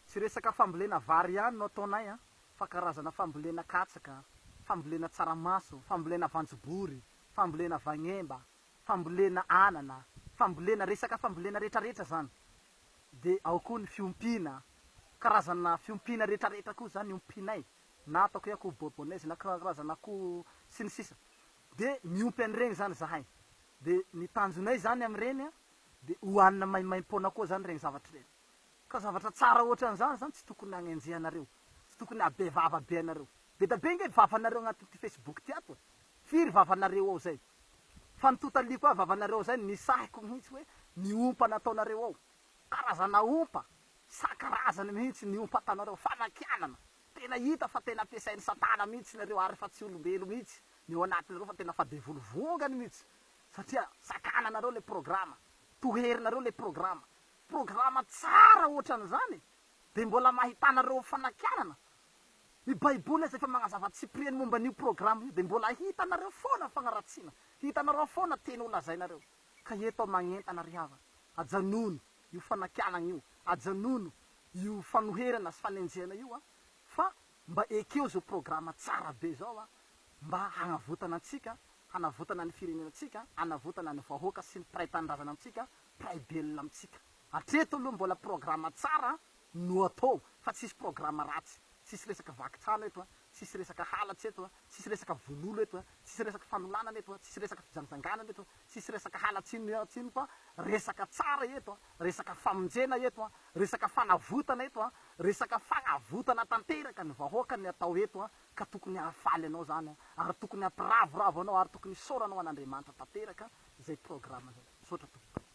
Tsy resaka fambolena vary ihany no ataonay an, fa karazana fambolena katsaka, fambolena tsaramaso, fambolena voanjobory, fambolena vagnemba, fambolena anana, fambolena resaka fambolena retraretra zany. De ao koa ny fiompiana, karazana fiompiana retraretra koa zany ompianay, na ataoko hoe akoho bourbonnaise na karazana akoho sy ny sisa. De miompy an'ireny zany zahay. De ny tanjonay zany amin'ireny an, Dia hohanina maimaim-poana koa izany ireny zavatra ireny. Ka zavatra tsara hoatran'izany izany tsy tokony hanenjehanareo, tsy tokony habe vava be anareo. Be da be ange ny vavanareo agnatin'ity Facebook ity ato e! Firy vavanareo ao izay? Fa ny totaliako ahy vavanareo ao izay no nisahiko mihitsy hoe ny ompa nataonareo ao. Karazana ompa, isan-karazany mihitsy ny ompa ataonareo, fanakianana. Tena hita fa tena ampiasain'i Satana mihitsy nareo ary efa tsy olombelo mihitsy ny ao anatinareo fa tena fa devoly vongany mihitsy. Satria sakananareo le programa, toherinareo le programa, programa tsara ohatran'izany e! Dia mbola mahitanareo fanakianana? Ny baiboly aza efa magnazava tsipiriany momba an'io programa io, dia mbola hitanareo foana fagnaratsiana, hitanareo foana teny holazainareo. Ka eto aho magnentana ry havana, ajanony io fanakianagna io, ajanony io fanoherana sy fanenjehana io an! Fa Mba ekeo zao programa tsara be zao a, mba hagnavotana antsika, hanavotana ny firenenantsika, hanavotana ny vahoaka sy ny mpiray tanindrazana amintsika, mpiray belona amintsika. Hatreto aloha mbola programa tsara no atao fa tsisy programa ratsy. Tsisy resaka vaky trano eto a, tsisy resaka halatra eto a, tsisy resaka vono olo eto a, tsisy resaka fanolanana eto a, tsisy resaka fijangjanganana eto a. Tsisy resaka halatsiny ny halatsiny fa resaka tsara eto a, resaka famonjena eto a, resaka fanavotana eto a, resaka fagnavotana tanteraka ny vahoaka ny atao eto a, ka tokony hahafaly anao zany a, ary tokony hampiravoravo anao ary tokony hisaora anao an'Andriamanitra tanteraka izay programme zay. Misaotra tompoko.